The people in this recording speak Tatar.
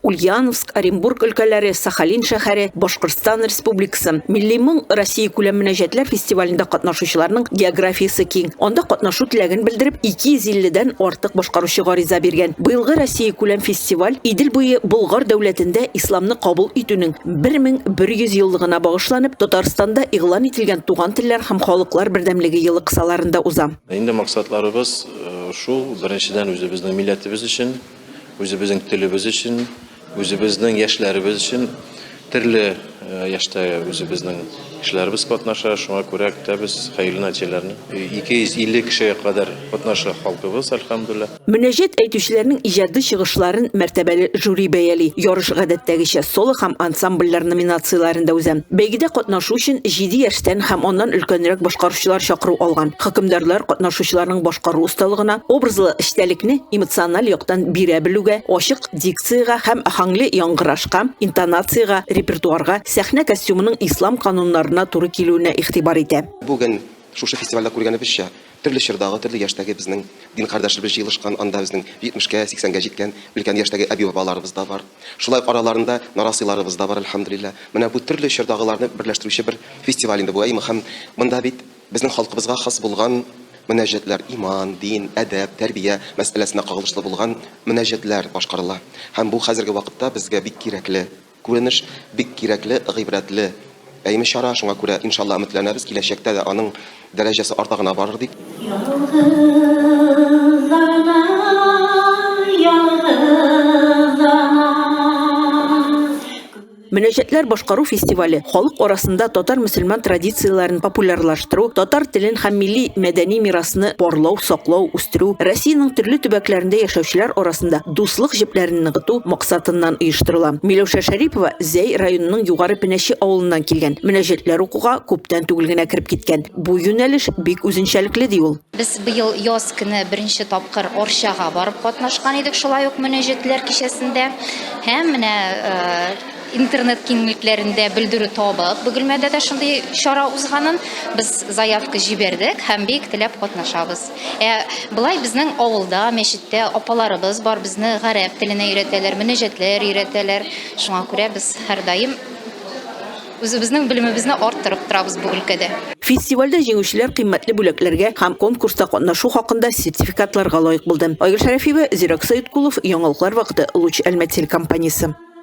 Ульяновск, Оренбург өлкәләре, Сахалин шәһәре, Башкортстан Республикасы. Милли моң Россия күләм мөнәҗәтләр фестивалендә катнашучыларның географиясе киң. Анда катнашу теләген белдереп, 250 дән артык башкаручы гариза биргән. Быелгы Россия күләм фестиваль Идел буе Болгар дәүләтендә исламны кабул итүнең 1100 еллыгына багышланып, Татарстанда игълан ителгән Туган телләр һәм халыклар бердәмлеге елы кысаларында уза. Инде максатларыбыз шул, беренчедән, үзебезнең милләтебез өчен, Үзебезнең телебез өчен, үзебезнең яшьләребез өчен төрле яшьтә үзебезнең кешеләребез катнаша. Шуңа күрә көтәбез хәерле нәтиҗәләрне. 250 кешегә кадәр катнаша халкыбыз, әлхәмдүлилла. Мөнәҗәт әйтүчеләрнең иҗади чыгышларын мәртәбәле жюри бәяли. Ярыш гадәттәгечә соло һәм ансамбльләр номинацияләрендә уза. Бәйгедә катнашу өчен җиде яшьтән һәм аннан өлкәнрәк башкаручылар чакыру алган. Хөкемдарлар катнашучыларның башкару осталыгына, образлы Истәлекне эмоциональ яктан бирә белүгә, ачык дикциягә һәм аһәңле яңгырашка, интонациягә, репертуарга, сәхнә костюмының ислам кануннарына туры килүенә игътибар итә. Бүген шушы фестивальдә күргәнебезчә, төрле чордагы, төрле яшьтәге безнең дин кардәшләребез җыелышкан, анда безнең 70 кә, 80 гә җиткән өлкән яшьтәге әби-бабаларыбыз да бар. Шулай ук араларында нарасыйларыбыз да бар, әлхәмдүлилләһ. Менә бу төрле чордагыларны берләштерүче бер фестиваль инде бу, әй Мөхәм, монда бит Безнең халкыбызга хас булган мөнәҗәтләр, иман, дин, әдәп, тәрбия мәсьәләсенә кагылышлы булган мөнәҗәтләр башкарыла. Һәм бу хәзерге вакытта безгә бик кирәкле күренеш, бик кирәкле, гыйбрәтле, әйме чара, шуңа күрә, иншалла, өметләнәбез, киләчәктә дә аның дәрәҗәсе арта гына барыр дип. Ялгыз ана, ялгыз ана. Мөнәҗәтләр башкару фестивале халык арасында татар-мөселман традицияләрен популярлаштыру, татар телен һәм милли мәдәни мирасны барлау, саклау, үстерү, Россиянең төрле төбәкләрендә яшәүчеләр арасында дуслык җепләрен ныгыту максатыннан оештырыла. Миләүшә Шәрипова Зәй районының Югары Пенәче авылыннан килгән. Мөнәҗәтләр укуга күптән түгел генә кереп киткән. Бу юнәлеш бик үзенчәлекле, ди ул. Без быел яз көне беренче тапкыр Арчага барып катнашкан идек, шулай ук мөнәҗәтләр кичәсендә. Һәм менә интернет киңлекләрендә белдерү табып, Бөгелмәдә дә шундый чара узганын без заявка җибәрдек һәм бик теләп катнашабыз. Ә болай безнең авылда, мәчеттә апаларыбыз бар, безне гарәп теленә өйрәтәләр, мөнәҗәтләр өйрәтәләр. Шуңа күрә без һәрдаим Үзебезнең белемебезне арттырып торабыз бу өлкәдә. Фестивальдә җиңүчеләр кыйммәтле бүләкләргә һәм конкурста катнашу хакында сертификатларга лаек булды. Айгөл Шәрәфиева, Зирәк Сәеткулов, Яңалыклар вакыты, Луч Әлмәт телекомпаниясе.